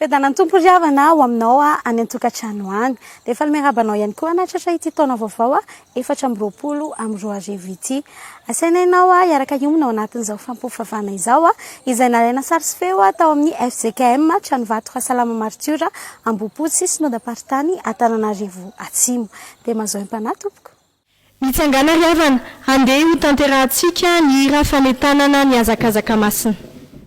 Fiadanan'ny Tompo ry havana ho aminao any an-tokantrano any. Dia efa miaraba anao ihany koa nahatratra ity taona vaovao efatra amby roapolo amby roa arivo ity. Asaina ianao hiaraka hiomana ao anatin'izao fampiofanvana izao izay nalaina sary sy feo tao amin'ny fjkm Tranovato Rasalama Maritiora Ambohipotsy Synodam-paritany Antananarivo Atsimo. Dia mazao empanahy tompoko. Mitsangàna ry havana, handeha hotanterahantsika ny hira fanentanana ny hazakazaka masina.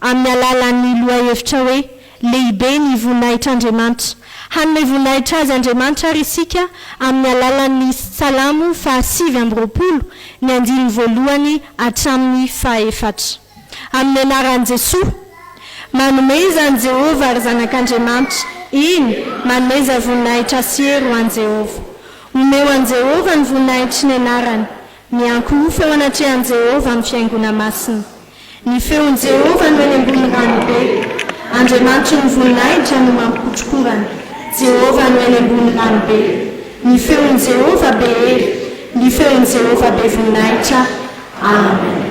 amin'ny alalan'ny lohahevitra hoe Lehibe ny voninahitr'Andriamanitra. Hanome voninahitra Azy Andriamanitra àry isika amin'ny alalan'ny Salamo fahasivy amby roapolo, ny andininy voalohany hatramin'ny fahaefatra. Amin'ny anaran'i Jesoa! Manomeza an'i Jehovah, ry zanak'Andriamanitra, eny, manomeza voninahitra sy hery ho an'i Jehovah. Omeo an'i Jehovah ny voninahitry ny anarany. Miankohofa eo anatrehan'i Jehovah amin'ny fiaingona masina. Ny feon'i Jehovah no eny ambony ranobe. Andriamanitry ny voninahitra no mampikotrokorana. Jehovah no eny ambony ranobe. Ny feon'i Jehovah be hery. Ny feon'i Jehovah be voninahitra. Amen.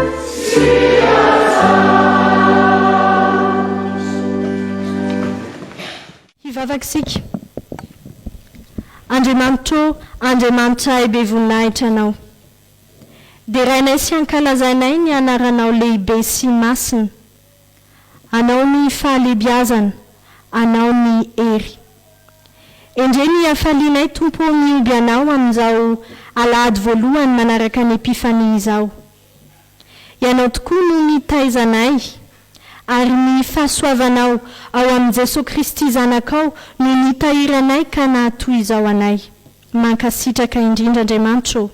Hivavaka isika. Andriamanitra ô, Andriamanitray be voninahitra Ianao. Derainay sy ankalazainay ny Anaranao lehibe sy masina. Anao ny fahalebiazana, Anao ny hery. Endrey ny hafalianay Tompo ô mihomby Anao amin'izao alahady voalohany manaraka ny Epifania izao. Ianao tokoa no mitaiza anay ary ny fahasoavanao ao amin'i Jesoa Kristy Zanakao no nitahiry anay ka naha toy izao anay. Mankasitraka indrindra Andriamanitra ô.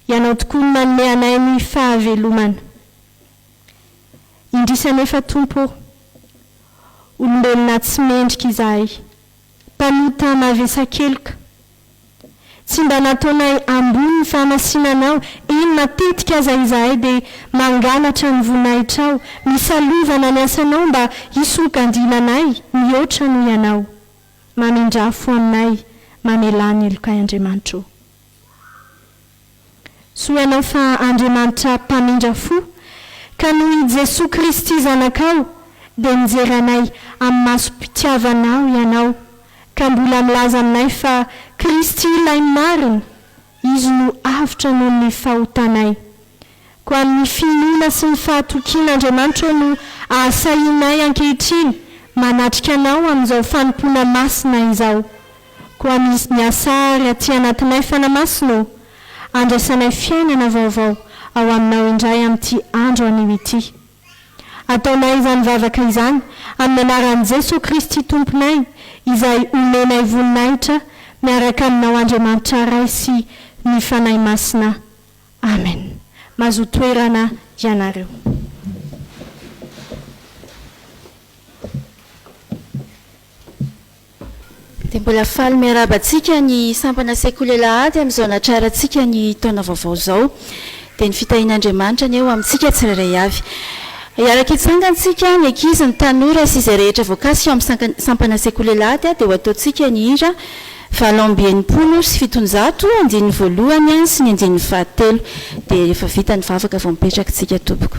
Ianao tokoa no manome anay ny fahavelomana. Indrisy anefa Tompo ô! Olombelona tsy mendrika izahay, mpanota mavesa-keloka. Tsy mba nataonay ambony ny fahamasinanao, eny matetika aza izahay dia mangalatra ny voninahitrao, misalovana ny asanao mba hisongadina anay mihoatra noho ianao. Mamindrafo aminay, mamelà ny helokay Andriamanitra ô! Soainao fa Andriamanitra mpamindra fo, ka noho i Jesoa Kristy Zanakao dia mijery anay amin'ny masom-pitiavanao ianao, ka mbola milaza aminay fa Kristy ilay marina, Izy no avotra noho ny fahotanay. Koa amin'ny finoana sy ny fahatokiana Andriamanitrao no ahasahianay ankehitriny manatrika Anao amin'izao fanompoana masina izao. Koa misy ny asa àry aty anatinay fanamasinao ô. Andraisanay fiainana vaovao ao Aminao indray amin'ity andro anio ity. Ataonay izany vavaka izany amin'ny anaran'i Jesoa Kristy Tomponay izay omenay voninahitra miaraka Aminao Andriamanitra Ray sy ny Fanahy Masina. Amen. Mazoa toerana ianareo. Dia mbola faly miarahaba antsika ny sampana sekoly alahady amin'izao natrarantsika ny taona vaovao izao. Dia ny fitahian'Andriamanitra anie ho amintsika tsirairay avy. Hiaraka hitsangana isika, ny ankizy, ny tanora sy izay rehetra voakasika ao amin'ny sampana sekoly alahady dia ho ataontsika ny hira. Valo amby enimpolo sy fitonjato, andininy voalohany an sy ny andininy fahatelo. Dia rehefa vita ny vavaka vao mipetraka tsika tompoko.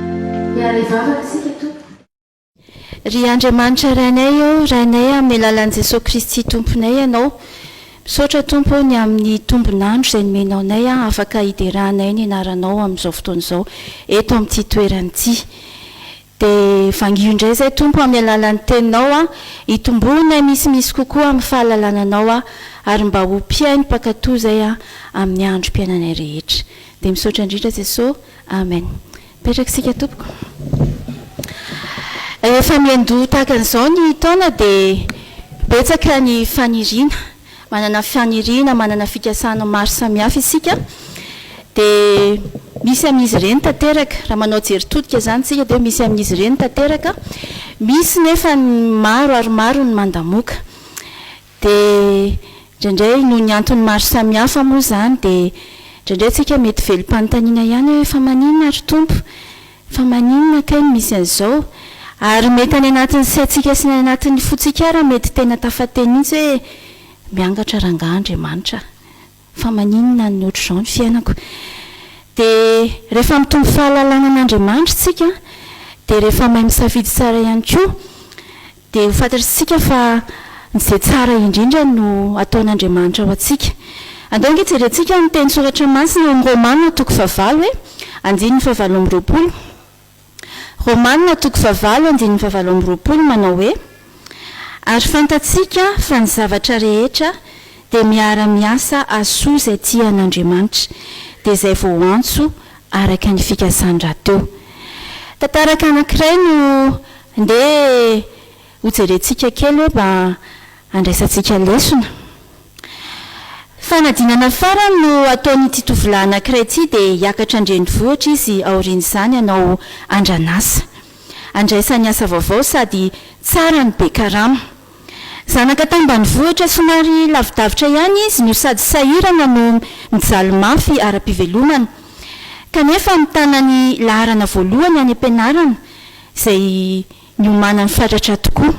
Miala hivavaka isika Tompo. Ry Andriamanitra Rainay ô, Rainay amin'ny alalan'i Jesoa Kristy Tomponay Ianao. Misaotra Tompo ô ny amin'ny tombon'andro izay nomenao anay afaka hideranay ny anaranao amin'izao fotoana izao eto amin'ity toerana ity. Dia vangio indray izay Tompo amin'ny alalan'ny Teninao hitomboanay misimisy kokoa amin'ny fahalalana Anao ary mba ho mpihaino mpankatò izay amin'ny androm-piainanay rehetra. Dia misaotra indrindra Jesoa. Amen. Mipetraka isika tompoko. Rehefa miandoha tahaka an'izao ny taona dia betsaka ny faniriana. Manana faniriana, manana fikasana maro samihafa isika. Dia misy amin'izy ireny tanteraka, raha manao jery todika izany isika dia misy amin'izy ireny tanteraka. Misy nefa ny maro ary maro ny mandamoaka. Dia indraindray noho ny antony maro samihafa moa izany dia indraindray tsika mety velom-panontaniana ihany hoe fa maninona ary Tompo? Fa maninona kay no misy an'izao? Ary mety any anatin'ny saintsika sy ny any anatin'ny fontsika ara mety tena tafateny mihitsy hoe miangatra rangahy Andriamanitra. Fa maninona an'i otrzao ny fiainako? Dia rehefa mitombo fahalalana an'Andriamanitra isika, dia rehefa mahay misafidy tsara ihany koa, dia ho fantatr'isika fa izay tsara indrindra no ataon'Andriamanitra ho antsika. Andao ange jerentsika ny teny soratra masina ao amin'ny Romana toko fahavalo e, andininy fahavalo amby roapolo. Romana toko fahavalo andininy fahavalo amby roapolo manao hoe, Ary fantatsika fa ny zavatra rehetra dia miara-miasa ahasoa izay tia an' Andriamanitra, dia izay voantso araka ny fikasany rahateo. Tantaraka anankiray no ndeha Hojerentsika kely hoe mba handraisantsika lesona. Fanadinana farany no ataon'ity tovolahy anankiray ity dia hiakatra an-drenivohitra izy aorian'izany hanao andran'asa. Andraisany asa vaovao sady tsara no be karama. Zanaka tambanivohitra somary lavidavitra ihany izy no sady sahirana no mijaly mafy ara-pivelomana. Kanefa mitana ny laharana voalohany any am-pianarana izay niomanany fatratra tokoa.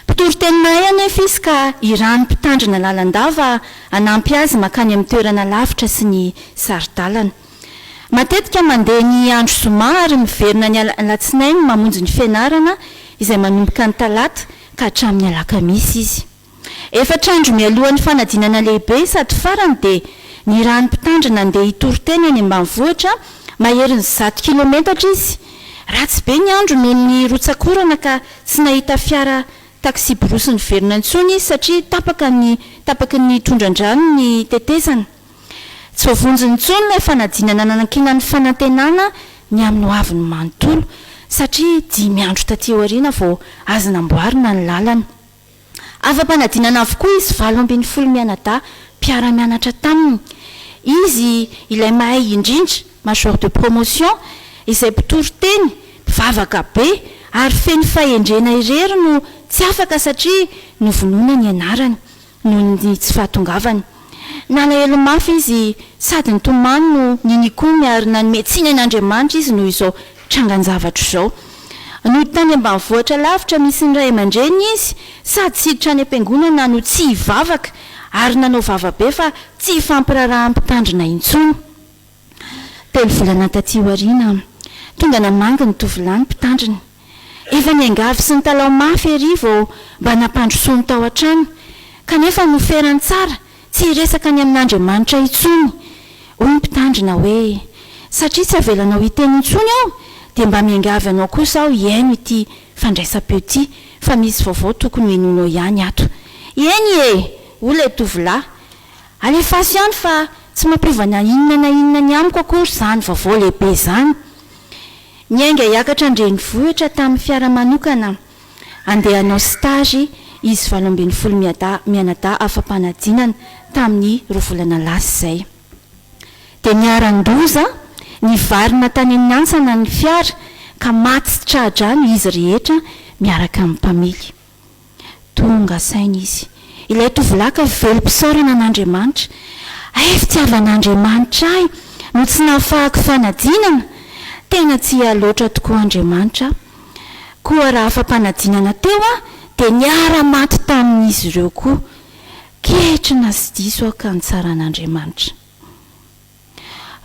Mpitory teny mahay anefa izy ka irahan'ny mpitandrina lalandava hanampy azy mankany amin'ny toerana lavitra sy ny sari-dalana. Matetika mandeha ny andro zoma ary miverina ny alatsinainy mamonjy ny fianarana izay manomboka ny talata ka hatramin'ny alakamisy izy. Efatra andro mialohan'ny fanadinana lehibe sady farany dia nirahan'ny mpitandro nandeha hitory tena any ambanivohitra maherin'ny zato kilometatra izy. Ratsy be ny andro noho ny rotsak'orana ka tsy nahita fiara taksiborosy niverina intsony izy satria tapaka ny tapaky ny tondran-drano ny tetezana. Tsy voavonjy intsony ilay fanadinana nanankinan'ny fanantenana ny amin'ny hoaviny manontolo satria dimy andro taty aoriana vao azo namboarina ny lalana. Afa-panadinana avokoa izy valo ambin'ny folo mianadahy mpiara-mianatra taminy. Izy ilay mahay indrindra, major de promotion, izay mpitory teny, mpivavaka be ary feno fahendrena irery no tsy afaka satria novonoina ny anarany noho ny tsy fahatongavany. Nalahelo mafy izy sady nitomany no ninikony ary nanome tsiny an'Andriamanitra izy noho izao trangan-javatra izao. Nody tany ambanivohitra lavitra misy ny ray aman-dreniny izy, sady tsy hiditra any am-piangonana no tsy hivavaka, ary nanao vava be fa tsy hifampiraharaha mpitandrina intsony. Telo volana tatỳ aoriana, tonga namangy ny tovolahy ny mpitandrina. Efa niangavy sy nitalaho mafy erỳ vao mba nampandrosoany tao an-trano, kanefa noferany tsara Tsy hiresaka ny amin'Andriamanitra intsony, hoy ny mpitandrina hoe, Satria tsy avelanao hiteny intsony aho, dia mba miangavy anao kosa aho hihaino ity fandraisam-peo ity, fa misy vaovao tokony hohenoinao ihany ato. Eny e! hoy ilay tovolahy. Alefaso ihany fa tsy mampiova na inona na inona ny amiko akory izany vaovao lehibe izany. Niainga hiakatra an-drenivohitra tamin'ny fiara manokana aho. Andeha hanao stage izy valo ambin'ny folo miadaha mianadaha afa-panadinana tamin'ny roa volana lasa izay. Dia niharan-doza, nivarina tany amin'ny antsana ny fiara ka maty tra-drano izy rehetra miaraka amin'ny mpamily. Tonga saina izy. Ilay tovolahy ka velom-pisaorana an'Andriamanitra. Hay fitiavan'Andriamanitra ahy no tsy nahafahako fanadinana! Tena tia ahy loatra tokoa Andriamanitra aho. Koa raha fampanadinana teo aho dia niara-maty tamin'izy ireo koa. Ketrina sy diso aho ka nitsara an'Andriamanitra.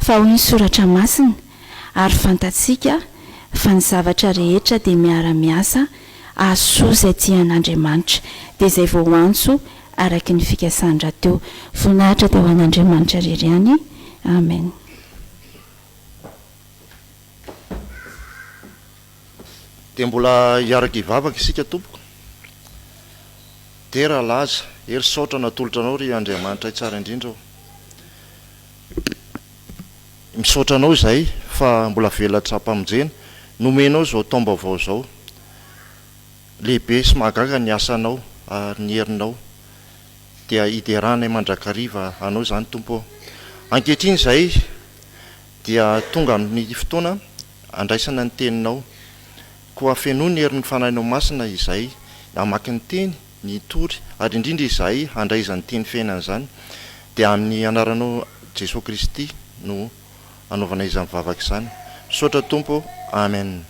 Fa hoy ny Soratra Masina, Ary fantatsika fa ny zavatra rehetra dia miara-miasa hahasoa izay tia an'Andriamanitra, dia izay voaantso araka ny fikasany rahateo. Voninahitra dia ho an'Andriamanitra irery ihany. Amen. Dia mbola hiaraka hivavaka isika tompoko. Dera Laza, hery saotra natolotra anao ry Andriamanitray tsara indrindra ô. Misaotra anao izahay fa mbola velatra am-pamonjena, nomenao izao taom-baovao izao. Lehibe sy mahagaga ny asanao ary ny herinao, dia hideranay mandrakariva anao izany Tompo ô. Ankehitriny izahay Dia tonga ny fotoana handraisana ny teninao. Koa fenoy ny herin'ny Fanahinao Masina izay hamaky ny teny, ny hitory, ary indrindra izahay handray izany teny fiainana izany. Dia amin'ny Anaranao Jesoa Kristy no anaovana izany vavaka izany. Misaotra Tompo ô. Amen.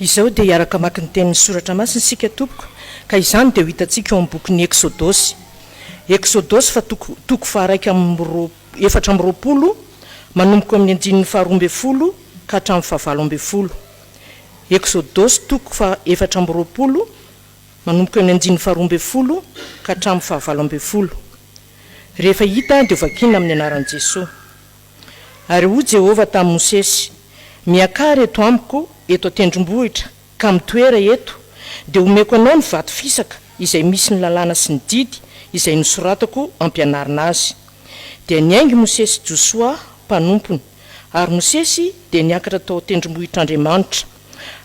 Izao dia hiaraka hamaky ny tenin'ny Soratra Masina isika tompoko, ka izany dia ho hitantsika ao amin'ny bokin'ny Eksodosy. Eksodosy fa toko toko faharaika amby roa efatra amby roapolo manomboka eo amin'ny andininy faharoa ambin'ny folo ka hatramin'ny fahavalo ambin'ny folo. Eksodosy toko faha efatra amby roapolo manomboka eo amin'ny andininy faharoa ambin'ny folo ka hatramin'ny fahavalo ambin'ny folo. Rehefa hita dia ho vakiana amin'ny anaran'i Jesoa. Ary hoy Jehovah tamin'i Mosesy, Miakara eto amiko eto an-tendrombohitra, ka mitoera eto, dia homeko anao ny vato fisaka izay misy ny lalàna sy ny didy izay nosoratako hampianarina azy. Dia niainga i Mosesy sy Josoa mpanompony, ary Mosesy dia niakatra tao an-tendrombohitr'Andriamanitra.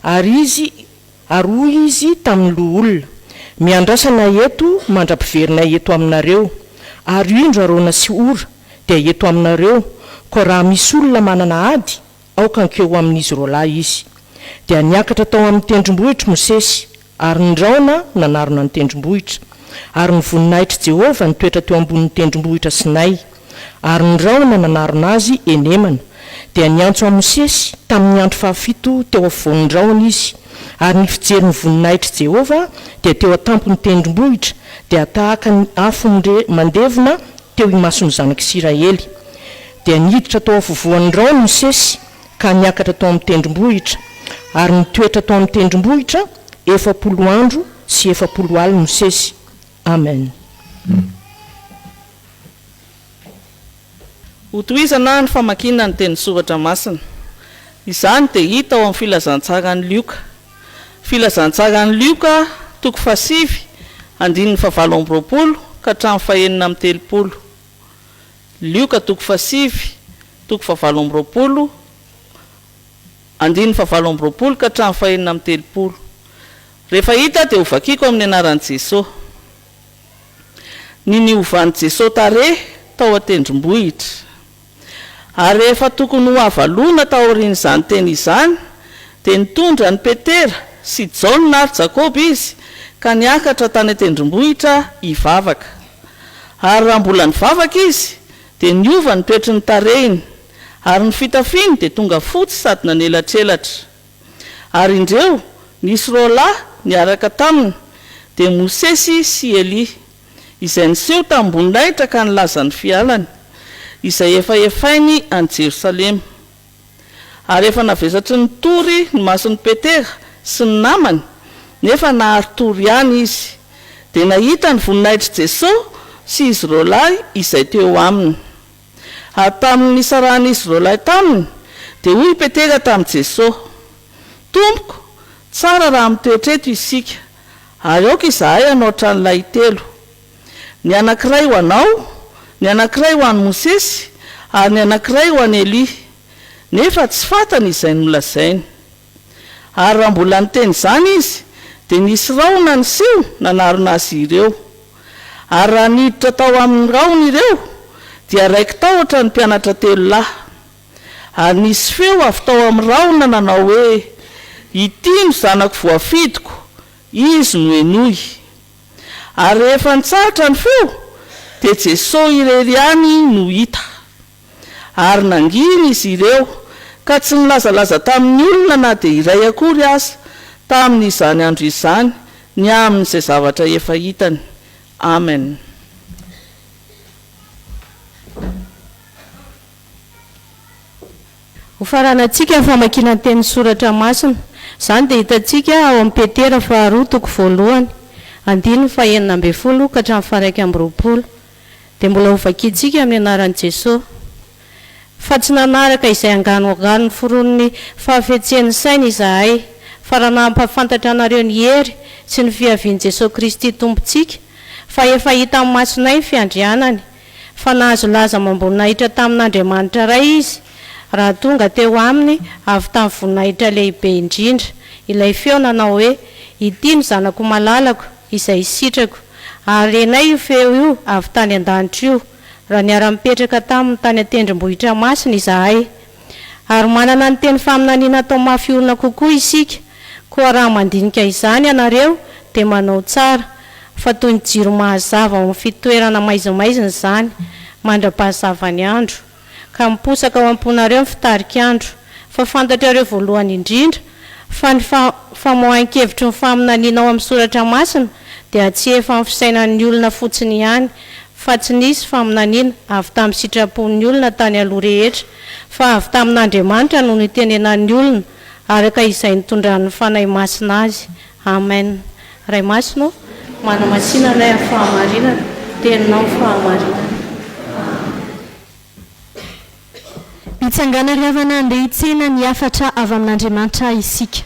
Ary izy, ary hoy izy tamin'ny loholona, Miandrasa anay eto mandra-piverina eto aminareo, ary indro Arona sy Hora, dia eto aminareo, koa raha misy olona manana ady, aoka ankeo ho amin'izy roalahy izy. Dia niakatra tao amin'ny tendrombohitr' Mosesy, ary ny rahona nanarona ny tendrombohitra. Ary ny voninahitr'i Jehovah nitoetra teo ambonin'ny tendrombohitra Sinay, ary ny rahona nanarona azy eny Emana. Dia niantso an'i Mosesy tamin'ny andro fahafito teo afovoan'ny rahona izy, ary ny fijerin'ny voninahitr'i Jehovah dia teo an-tampon'ny tendrombohitra, dia tahaka ny afo mandevona, teo imason'ny zanak'Isiraely. Dia niditra tao afovoan'ny raony Mosesy ka niakatra tao amin'ny tendrombohitra, ary nitoetra tao amin'ny tendrombohitra efapolo andro sy efapolo alina Mosesy. Amen. Hotohizana ny famakiana ny Teny Soratra Masina. Izany dia hita ao amin'ny Filazantsara an'i Lioka. Filazantsaran'i Lioka toko fahasivy andininy fahavalo amby roapolo ka hatramin'ny fahenina amby telopolo. Lioka toko fahasivy toko fahavalo amby roapolo andininy fahavalo amby roapolo ka hatramin'ny fahenina amby telopolo. Rehefa hita dia hovakiko amin'ny anaran'i Jesoa. Ny niovan'i Jesoa tarehy tao an-tendrombohitra. Ary rehefa tokony ho avalona taorian'izany teny izany, dia nitondra an'i Petera sy Jaona ary Jakoba izy ka niakatra tany an-tendrombohitra hivavaka. Ary raha mbola nivavaka izy, dia niova ny toetry ny tarehiny, ary ny fitafiny dia tonga fotsy sady nanelatrelatra. Ary indreo, nisy roalahy niaraka taminy, dia Mosesy sy Elia. izay niseho tamim-boninahitra ka nilaza ny fialany, izay efa hefainy any Jerosalema. Ary efa navesatry ny tory ny mason'i Petera sy ny namany, nefa nahary tory ihany izy, dia nahita ny voninahitr'i Jesosy sy izy roalahy izay teo aminy. Ary tamin'ny nisarahan'izy roalahy taminy, dia hoy i Petera tamin'i Jesosy, Tompoko, tsara raha mitoetra eto isika, ary aoka izahay hanao tranolahy telo, ny anankiray ho anao, ny anankiray ho an'i Mosesy, ary ny anankiray ho an'i Elia. Nefa tsy fantany izay nolazainy. Ary raha mbola niteny izany izy, dia nisy rahona niseho nanarona azy ireo. Ary raha niditra tao amin' ny rahona ireo, dia raiki-tahotra ny mpianatra telo lahy. Ary nisy feo avy tao amin' ny rahona nanao hoe, Ity no Zanako voafidiko, Izy no henoy. Ary rehefa nitsahatra ny feo, dia Jesosy irery ihany no hita. Ary nangina izy ireo, ka tsy nilazalaza tamin'ny olona na dia iray akory aza, tamin'izany andro izany, ny amin'izay zavatra efa hitany. Amen. Hofaranantsika ny famakiana ny tenin'ny Soratra Masina. Izany dia hitantsika ao amin'ny Petera faharoa toko voalohany, andininy fahenina ambin'ny folo ka hatramin'ny faharaika amby roapolo. dia mbola hovakiantsika amin'ny anaran'i Jesoa. Fa tsy nanaraka izay angano angano noforonin'ny fahafetsian'ny saina izahay, fa raha nampahafantatra anareo ny hery sy ny fiavian'i Jesoa Kristy Tompontsika, fa efa hita amin'ny masonay ny fiandrianany, fa nahazo laza amam-boninahitra tamin'Andriamanitra Ray izy, raha tonga teo aminy avy tamin'ny voninahitra lehibe indrindra ilay feo nanao hoe, Ity no Zanako malalako, izay sitrako. Ary renay io feo io avy tany an-danitra io, raha niara-nipetraka taminy tany an-tendrombohitra masina izahay. Ary manana ny teny faminaniana atao mafy orina kokoa isika, koa raha mandinika izany ianareo, dia manao tsara, fa toy ny jiro mazava ao amin'ny fitoerana maizimaizina izany, mandra-pahazavan'ny andro. ka miposaka ao am-ponareo ny fitarik'andro, fa fantatrareo voalohany indrindra fa ny famoahan-kevitry ny faminaniana ao amin'ny Soratra Masina dia tsy efa amin'ny fisainan'ny olona fotsiny ihany, fa tsy nisy faminaniana avy tamin'ny sitrapon'ny olona tany aloha rehetra, fa avy tamin'Andriamanitra no nitenenan'ny olona araka izay nitondran'ny Fanahy Masina azy. Amen Ray Masina ô, manamatsina anay amin'ny fahamarinana, Teninao ny fahamarinana. Mitsangàna ry havana handeha hitsena ny hafatra avy amin'Andriamanitra isika.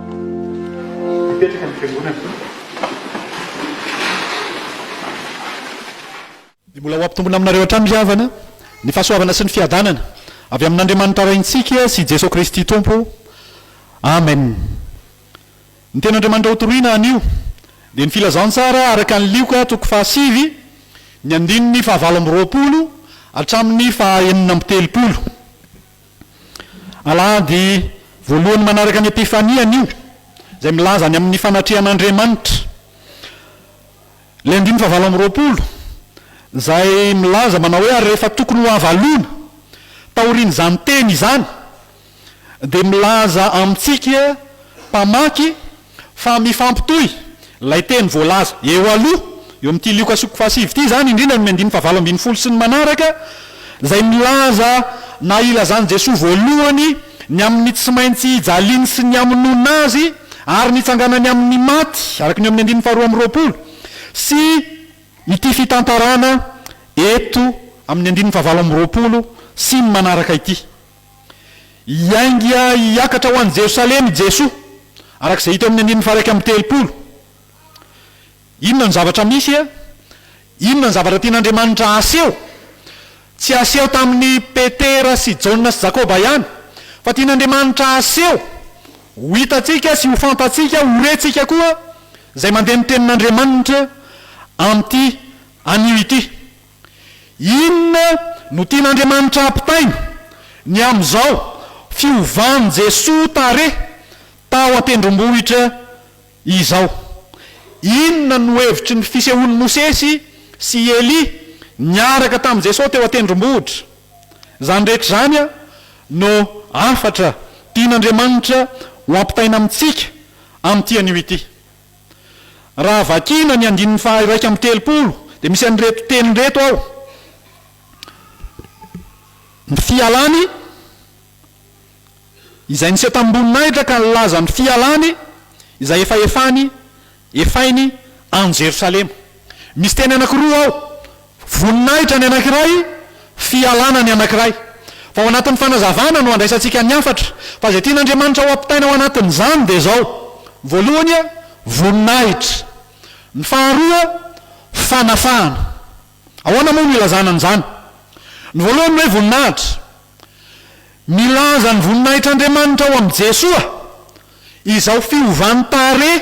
Mipetraka ny fiangonana. Dia mbola ho ampitombina aminareo hatrany ry havana ny fahasoavana sy ny fiadanana avy amin'Andriamanitra Raintsika sy Jesoa Kristy Tompo. Amen. Ny Tenin'Andriamanitra hotoroina anio dia ny Filazantsara araka ny Lioka toko fahasivy ny andininy fahavalo amby roapolo hatramin'ny fahaenina amby telopolo. Alahady voalohany manaraka ny Epifania anio, izay milaza ny amin'ny fanatrehan'Andriamanitra. Ilay andininy fahavalo amby roapolo, izay milaza manao hoe, Ary rehefa tokony ho avalona, taorian'izany teny izany, dia milaza amintsika mpamaky, Fa mifampitohy ilay teny voalaza eo aloha, eo amin'ity Lioka sokop fahasivy ity izany, indrindra ny amin'ny andininy fahavalo ambin'ny folo sy ny manaraka, izay milaza na ilazan'i Jesoa voalohany ny amin'ny tsy maintsy ijaliany sy ny hamonoana Azy ary ny hitsanganany amin'ny maty, araka ny eo amin'ny andininy faharoa amby roapolo, sy ity fitantarana eto amin'ny andininy fahavalo amby roapolo sy ny manaraka ity. Hiainga hiakatra ho any Jerosalema i Jesoa, araka izay hita eo amin'ny andininy faha-iraika amby telopolo. Inona no zavatra misy e? Inona no zavatra tian'Andriamanitra haseho? Tsy haseho tamin'i Petera sy Jaona sy Jakoba ihany, fa tian'Andriamanitra haseho, ho hitantsika sy ho fantatsika, ho rentsika koa, izay mandeha ny tenin'Andriamanitra amin'ity anio ity. Inona no tian'Andriamanitra hampitaina? Ny amin'izao, fiovan'i Jesoa tarehy tao an-tendrombohitra izao. Inona no hevitry ny fisehoan'i Mosesy sy i Elia niaraka tamin'i Jesoa teo an-tendrombohitra? Izany rehetra izany no hafatra tian'Andriamanitra ho ampitaina amintsika amin'ity anio ity. Raha vakiana ny andininy faha iraika amby telopolo dia misy an'ireto teny ireto ao, Ny fialany, izay niseho tamim-boninahitra ka nilaza ny fialany, izay efa efany, efainy, any Jerosalema. Misy teny anankiroa ao. Voninahitra ny anankiray, fialana ny anankiray. Fa ao anatin'ny fanazavana no andraisantsika ny hafatra. Fa izay tian'Andriamanitra ho ampitaina ao anatin'izany dia izao, voalohany, voninahitra. Ny faharoa, fanafahana. Ahoana moa no ilazana an'izany? Ny voalohany ny hoe voninahitra, Milaza ny voninahitr'Andriamanitra ao amin'i Jesoa izao fiovan'ny tarehy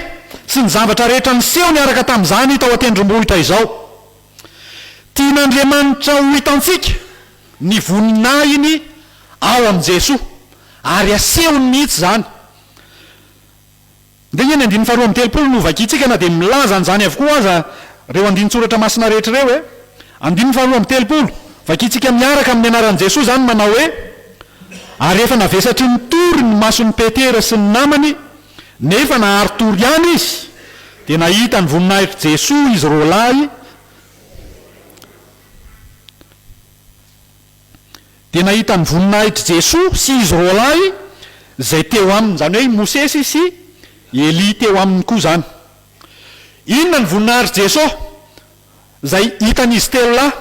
sy ny zavatra rehetra niseho niaraka tamin'izany tao an-tendrombohitra izao. Tian'Andriamanitra ho hitantsika ny voninahiny ao amin'i Jesoa, ary asehony mihitsy izany. Ndrengy ny andininy faharoa amby telopolo no hovakiantsika na dia milaza an'izany avokoa aza ireo andinin-tsoratra masina rehetra ireo e! Andininy faharoa amby telopolo, vakiantsika miaraka amin'ny anaran'i Jesoa izany manao hoe, Ary efa navesatry ny tory ny mason'i Petera sy ny namany, nefa nahary tory ihany izy, dia nahita ny voninahitr'i Jesoa izy roalahy, dia nahita ny voninahitr'i Jesoa sy izy roalahy izay teo aminy, izany hoe i Mosesy sy i Elia teo aminy koa izany. Inona ny voninahitr'i Jesoa izay hitan'izy telo lahy,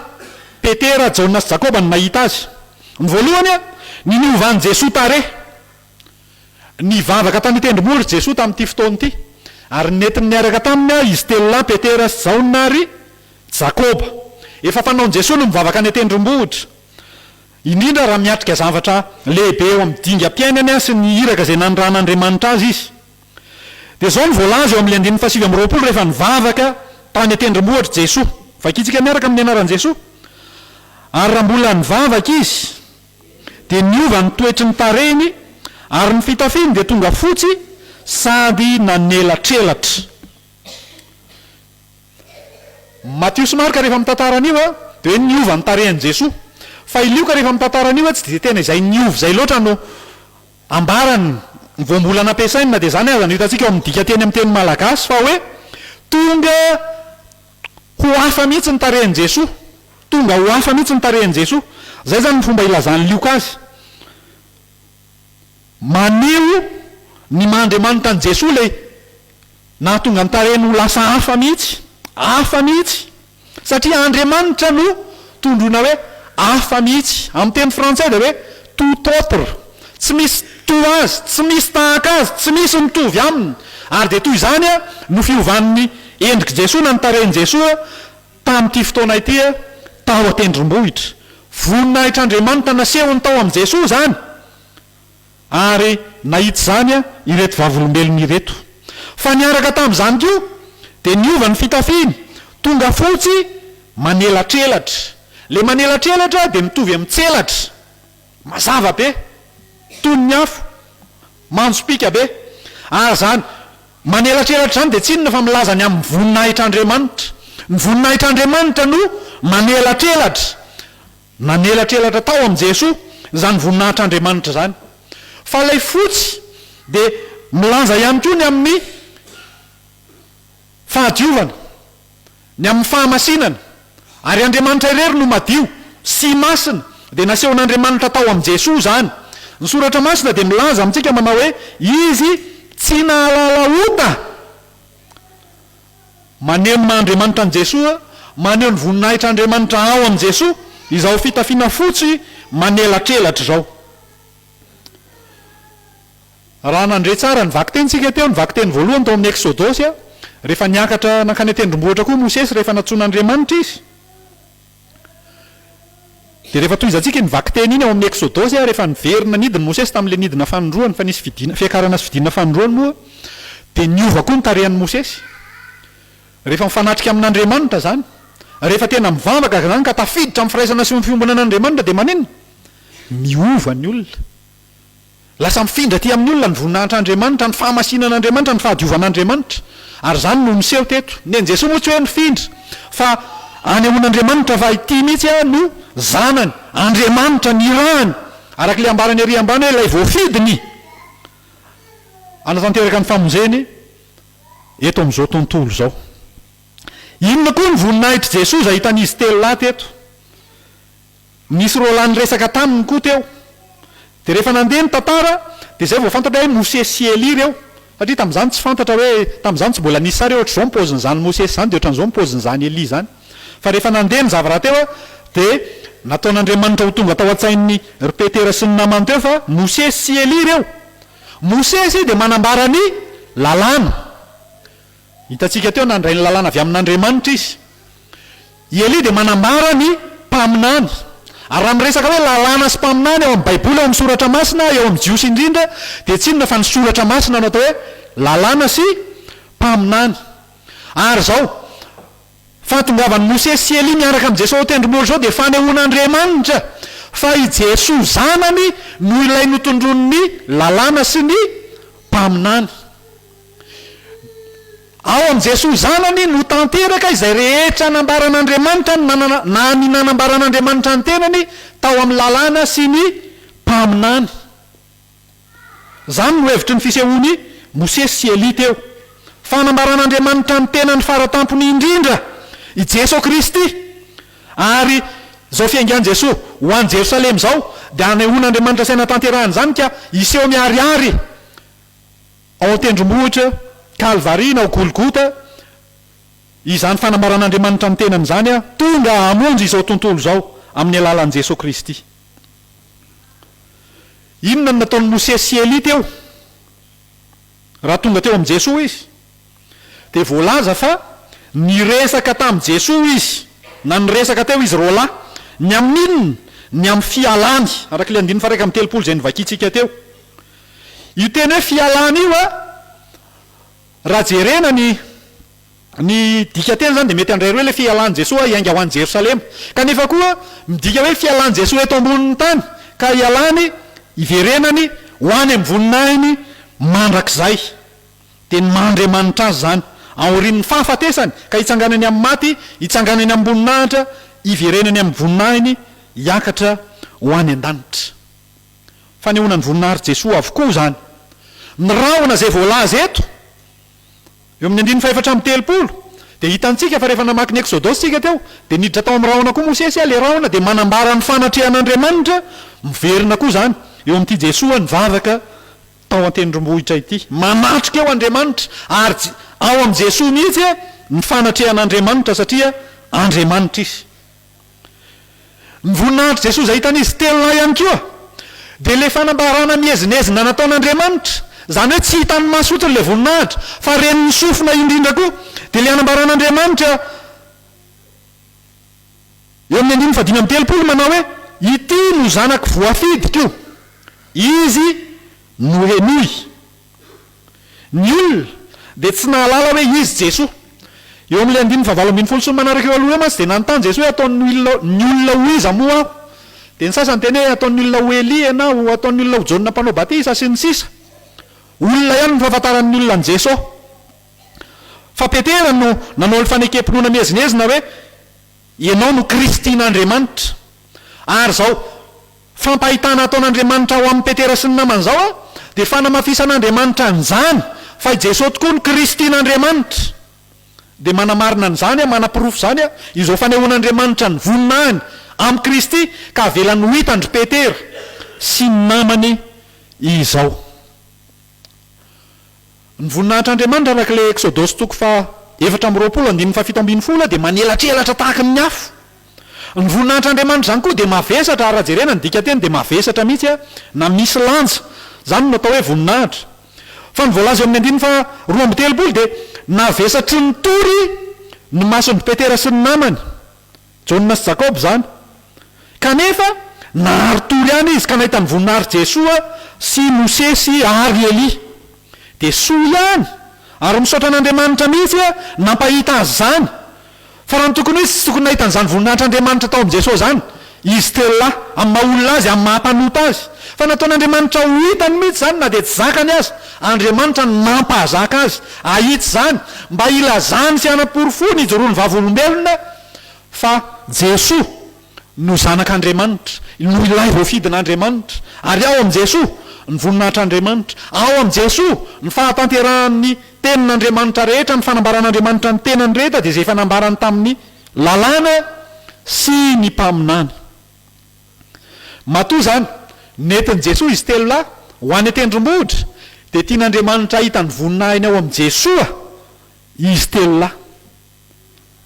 Petera, Jaona sy Jakoba no nahita azy? Ny voalohany, ny niovan'i Jesoa tarehy. Nivavaka tany an-tendrombohitra i Jesoa tamin'ity fotoana ity, ary nentiny niaraka taminy izy telo lahy, Petera sy Jaona ary Jakoba. Efa fanaon'i Jesoa ny mivavaka any an-tendrombohitra, indrindra raha miatrika zavatra lehibe eo amin'ny dingam-piainany sy ny iraka izay nanirahan'Andriamanitra azy izy. Dia izao no voalaza eo amin'ny andininy fahasivy amby roapolo, Rehefa nivavaka tany an-tendrombohitra Jesoa. Vakintsika miaraka amin'ny anaran'i Jesoa, Ary raha mbola nivavaka izy, dia niova ny toetry ny tarehiny ary ny fitafiny dia tonga fotsy sady nanelatrelatra. Matio sy Marka rehefa mitantara an'io dia hoe niova ny tarehin'i Jesoa. Fa i Lioka rehefa mitantara an'io tsy dia tena izay niova izay loatra no ambarany. Vao mbola nampiasainy na dia izany aza no hitantsika ao amin'ny dika teny amin'ny teny malagasy fa hoe tonga Ho hafa mihitsy ny tarehin'i Jesoa. Tonga ho hafa mihitsy ny tarehin'i Jesoa. Izay izany ny fomba ilazan'i Lioka azy. Maneho ny maha Andriamanitra an'i Jesoa ilay nahatonga ny tarehiny ho lasa hafa mihitsy. Hafa mihitsy. Satria Andriamanitra no Tondroina hoe hafa mihitsy. Amin'ny teny frantsay dia hoe tout autre. Tsy misy toa azy, tsy misy tahaka azy, tsy misy mitovy aminy. Ary dia toy izany no fiovan'ny endrik'i Jesoa na ny tarehin'i Jesoa tamin'ity fotoana ity tao an-tendrombohitra. Voninahitr'Andriamanitra nasehony tao amin'i Jesoa izany. Ary nahita izany ireto Vavolombelona ireto. Fa niaraka tamin'izany koa, dia niova ny fitafiany, tonga fotsy manelatrelatra. Ilay manelatrelatra dia mitovy amin'ny tselatra, mazava be, toy ny afo, manjopiaka be. Ary izany manelatrelatra izany dia tsy inona fa milaza ny amin'ny voninahitr'Andriamanitra. Ny voninahitr'Andriamanitra no manelatrelatra. Nanelatrelatra tao amin'i Jesoa izany voninahitr'Andriamanitra izany. Fa ilay fotsy dia milanja ihany koa ny amin'ny fahadiovana, ny amin'ny fahamasinana. Ary Andriamanitra irery no madio sy masina, dia nasehon'Andriamanitra tao amin'i Jesoa izany. Ny Soratra Masina dia milaza amintsika manao hoe, Izy tsy nahalala ota. Manenina Andriamanitra an'i Jesoa, maneho ny voninahitr' Andriamanitra ao amin'i Jesoa izao fitafiana fotsy manelatrelatra izao. Raha nandre tsara ny vakitentsika teo, ny vakiteny voalohany tao amin'ny Eksodosy, rehefa niakatra nankany an-tendrombohitra koa Mosesy rehefa nantsoin'Andriamanitra izy, Dia rehefa tohizantsika iny vakiteny iny ao amin'ny Eksodosy ary efa niverina nidy ny Mosesy tamin'ilay nidina fanindroany fa nisy fidina, fiakarana sy fidinana fanindroany moa dia niova koa ny tarehan'i Mosesy. Rehefa mifanatrika amin'Andriamanitra izany, rehefa tena mivavaka izany ka tafiditra amin'ny firaisana sy ny fiombonan'Andriamanitra dia maninona? Miova ny olona. Lasa mifindra aty amin'ny olona ny voninahitr'Andriamanitra, ny fahamasinan'Andriamanitra, ny fahadiovan'Andriamanitra. Ary izany no niseho teto. Ny an'i Jesoa moa tsy hoe nifindra, fa anehoan'Andriamanitra fa ity mihitsy aho no Zanany, Andriamanitra nirahany, araka ilay ambarany ary ambany hoe ilay voafidiny hanatanteraka ny famonjeny eto amin'izao tontolo izao. Inona koa ny voninahitr'i Jesoa izay hitan'izy telolahy teto? Nisy Roland niresaka taminy koa teo. Dia rehefa nandeha ny tantara dia izay vao fantatra hoe Mosesy sy Elia ireo. Satria tamin'izany tsy fantatra hoe, tamin'izany tsy mbola nisy sary hoe ohatr'izao ny paozin'izany Mosesy izany dia ohatran'izao ny paozin'izany Elia izany. Fa rehefa nandeha ny zava-rahateo dia nataon'Andriamanitra ho tonga tao an-tsain'i ry Petera sy ny namany teo fa Mosesy sy Elia ireo. Mosesy dia manambara ny lalàna. Hitantsika teo, nandray ny lalàna avy amin'Andriamanitra izy. I Elia dia manambara ny mpaminany. Ary raha miresaka hoe lalàna sy mpaminany ao amin'ny Baiboly, ao amin'ny Soratra Masina, eo amin'ny Jiosy indrindra, dia tsy inona fa ny Soratra Masina no atao hoe lalàna sy mpaminany. Ary izao, fahatongavan'i Mosesy sy Elia miaraka amin'i Jesosy ao Tendromboly izao dia fanehoan'Andriamanitra fa i Jesosy Zanany no ilay notondroin'ny lalàna sy ny mpaminany. Ao amin'i Jesoa Zanany no tanteraka izay rehetra nambaran'Andriamanitra ny nanana na ny nanambaran'Andriamanitra ny tenany tao amin'ny Lalàna sy ny Mpaminany. Izany no hevitry ny fisehoan'i Mosesy sy Elia teo. Fa nambaran'Andriamanitra ny tenany fara tampony indrindra i Jesoa Kristy. Ary izao fiaingan'i Jesoa ho any Jerosalema izao dia hanehoan'Andriamanitra saina tanterahana izany ka hiseho miharihary. Ao an-tendrombohitra Kalvary na ao Golgota, izany fanambaran'Andriamanitra ny tenany izany, tonga hamonjy izao tontolo izao amin'ny alalan'i Jesoa Kristy. Inona no nataon'i Mosesy sy Elia teo raha tonga teo amin'i Jesoa izy? Dia voalaza fa niresaka tamin'i Jesoa izy, na niresaka teo izy roa lahy. Ny amin'inona? Ny amin'ny fialany, araka ilay andininy faha iraika amby telopolo izay novakintsika teo. Io teny hoe fialana io an, raha jerena ny ny dikanteny izany dia mety handray roa ilay fialan'i Jesoa hiainga ho any Jerosalema. Kanefa koa midika hoe fialan'i Jesoa eto ambonin'ny tany ka hialany, hiverenany, ho any amin'ny voninahiny mandrakizay. Dia ny maha Andriamanitra Azy izany, aorian'ny fahafatesany ka hitsanganany amin'ny maty, hitsanganany amim-boninahitra, hiverenany amin'ny voninahiny, hiakatra ho any an-danitra. Fanehoana ny voninahitry Jesoa avokoa izany. Ny rahona izay voalaza eto, eo amin'ny andininy fahefatra amby telopolo, dia hitantsika fa rehefa namaky ny Ekzodosy isika teo, dia niditra tao amin'ny rahona koa Mosesy, ilay rahona dia manambara ny fanatrehan'Andriamanitra, miverina koa izany eo amin'ity Jesoa nivavaka tao an-tendrombohitra ity. Manatrika eo Andriamanitra, ary ao amin'i Jesoa mihitsy ny fanatrehan'Andriamanitra, satria Andriamanitra Izy. Ny voninahitry Jesoa izay hitan' izy telo lahy ihany koa dia ilay fanambarana miezinezina nataon' Andriamanitra, izany hoe tsy hitan' ny maso fotsiny ilay voninahitra fa ren' ny sofina indrindra koa, dia ilay anambaran' Andriamanitra eo amin' ny andininy fahadimy amby telopolo manao hoe, Ity no Zanako voafidiko, Izy no henoy. Ny olona dia tsy nahalala hoe izy Jesoa. Eo amin'ilay andininy fahavalo ambin'ny folo sy ny manaraka eo aloha eo mantsy dia nanontany Jesoa hoe ataon'ny olona ho iza moa aho? Dia ny sasany niteny hoe ataon'ny olona ho Elia na ho ataon'ny olona ho Jaona mpanao batisa sy ny sisa Olona ihany no fahafantaran'ny olona an'i Jesoa. Fa Petera no nanao ny fanekempinoana miezinezina hoe ianao no Kristin'Andriamanitra. Ary izao. Fampahitana ataon'Andriamanitra ho amin'i Petera sy ny namany izao a, dia fanamafisan'Andriamanitra an'izany fa i Jesoa tokoa no Kristin'Andriamanitra. Dia manamarina an'izany a, manaporofo izany a, izao fanehoan'Andriamanitra ny voninahiny amin'i Kristy ka avelany ho hitan-dry Petera sy ny namany izao. Ny voninahitr'Andriamanitra araka ilay Eksodosy toko faha efatra amby roapolo andininy faha fito ambin'ny folo dia manelatrelatra tahaka ny afo. Ny voninahitr'Andriamanitra izany koa dia mavesatra ary raha jerena ny dikanteny dia mavesatra mihitsy na misy lanja. Izany no atao hoe voninahitra. Fa ny voalaza eo amin'ny andininy faha roa amby telopolo dia navesatry ny tory ny mason'i Petera sy ny namany. Jaona sy Jakoba izany. Kanefa, nari-tory ihany izy ka nahita ny voninahitry Jesoa sy Mosesy ary Elia. Dia soa ihany, ary misaotra an'Andriamanitra mihitsy hoe nampahita azy izany. Fa raha ny tokony ho izy, tsy tokony nahita an'izany voninahitr'Andriamanitra tao amin'i Jesoa izany izy telo lahy, amin'ny maha-olona azy, amin'ny maha-mpanota azy. Fa nataon'Andriamanitra ho hitany mihitsy izany na dia tsy zakany aza. Andriamanitra no nampahazaka azy hahita izany, mba hilazany sy hanaporofoany hijoroan'ny vavolombelona, fa Jesoa no Zanak'Andriamanitra, no Ilay Voafidin'Andriamanitra, ary ao amin'i Jesoa ny voninahitr'Andriamanitra, ao amin'i Jesoa ny fahatanterahan'ny Tenin'Andriamanitra rehetra, ny fanambaran'Andriamanitra ny Tenany rehetra dia izay efa nambarany tamin'ny Lalàna sy ny Mpaminany. Matoa izany, nentin'i Jesoa izy telo lahy ho any an-tendrombohitra, dia tian'Andriamanitra hahita ny voninahiny ao amin'i Jesoa izy telo lahy.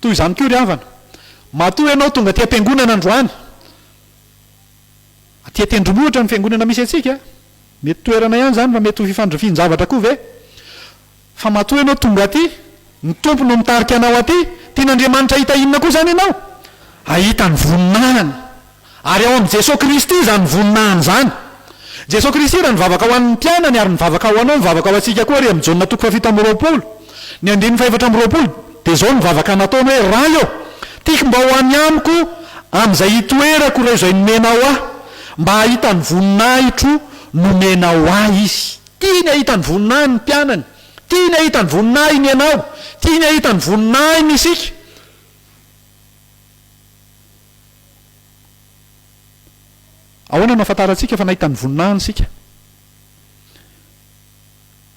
Toy izany koa ry havana, matoa ianao tonga aty am-piangonana androany, aty an-tendrombohitra ny fiangonana misy antsika, mety toerana ihany izany fa mety ho fifandrifian-javatra koa ve? Fa matoa ianao tonga aty, ny Tompo no mitarika anao aty, tian'Andriamanitra hahita inona koa izany ianao? Hahita ny voninahiny. Ary ao amin'i Jesoa Kristy izany voninahiny izany. Jesoa Kristy raha nivavaka ho an'ny mpianany ary nivavaka ho anao, mivavaka ho antsika koa ary amin'ny Jaona toko fahafito amby roapolo, ny andininy fahefatra amby roapolo, dia izao no vavaka nataony hoe, Ray ô, tiako mba ho any amiko amin'izay hitoerako ireo izay nomenao ahy, mba hahita ny voninahitro nomenao ahy izy. Tiany hahita ny voninahiny ny mpianany. Tiany hahita ny voninahiny ianao. Tiany hahita ny voninahiny isika. Ahoana no ahafantarantsika fa nahita ny voninahiny isika?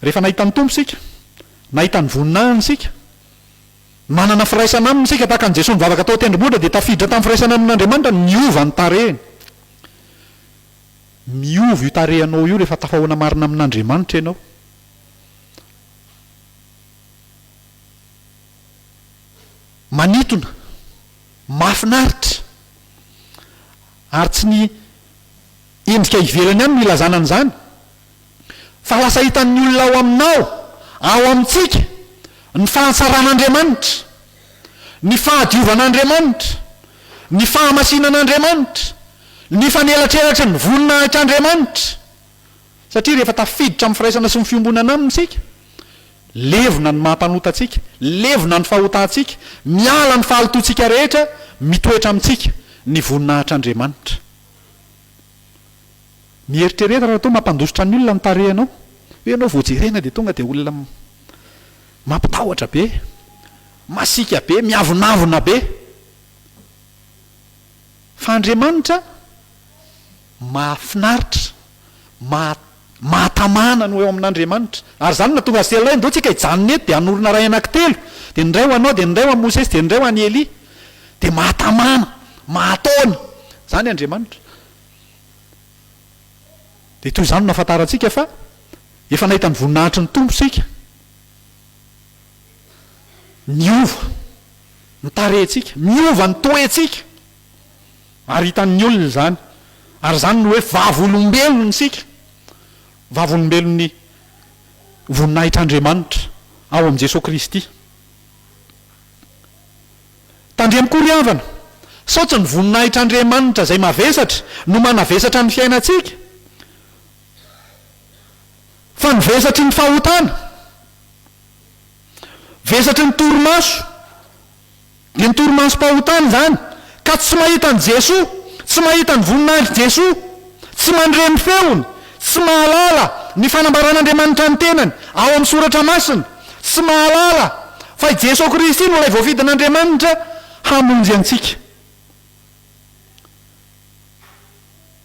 Rehefa nahita ny Tompo isika, nahita ny voninahiny isika, manana firaisana Aminy isika tahaka an'i Jesoa nivavaka tao an-tendrombohitra dia tafiditra tamin'ny firaisana amin'Andriamanitra ny niova ny tarehiny. Miova io tarehinao io rehefa tafahoana marina amin'Andriamanitra ianao. manitona, mahafinaritra, ary tsy ny endrika ivelany ihany no ilazana an'izany fa lasa hitan'ny olona ao aminao, ao amintsika, ny fahatsaran'Andriamanitra, ny fahadiovan'Andriamanitra, ny fahamasinan'Andriamanitra, ny fanelatrelatriny voninahitr' Andriamanitra. Satria rehefa tafiditra amin'ny firaisana sy ny fiombonana Aminy isika, levona ny maha-mpanota antsika, levona ny fahotantsika, miala ny fahalotoantsika rehetra, mitoetra amintsika ny voninahitr'Andriamanitra. Mieritrereta raha toa mampandositra ny olona ny tarehinao, hoe ianao vao jerena dia tonga dia olona mampitahotra be, masiaka be, miavonavona be. Fa Andriamanitra? Mahafinaritra, maha mahatamana no eo amin'Andriamanitra. Ary izany no nahatonga azy telo lahy, Ndao tsika hijanona eto, dia hanorina ray anankitelo, dia ny iray ho anao, dia ny iray ho an'i Mosesy, dia ny iray ho an'i Elia. Dia mahatamana, mahataona. Izany Andriamanitra. Dia toy izany no nahafantarantsika fa efa nahita ny voninahitry ny Tompo isika. Niova ny tarehintsika, miova ny toetsika. ary hitan'ny olona izany, ary izany no hoe vavolombelontsika, vavolombelon'ny voninahitr'Andriamanitra ao amin'i Jesoa Kristy. Tandremo-ko ry havana, sao tsy ny voninahitr'Andriamanitra izay mavesatra no manavesatra ny fiainantsika, fa ny vesatry ny fahotana. Vesatry ny torimaso, dia ny torimasom-pahotana izany, ka tsy mahita an'i Jesoa, tsy mahita ny voninahitry Jesoa, tsy mandre ny feony, tsy mahalala ny fanambaran'Andriamanitra ny tenany ao amin'ny Soratra Masina, tsy mahalala fa i Jesoa Kristy no ilay voafidin'Andriamanitra hamonjy antsika.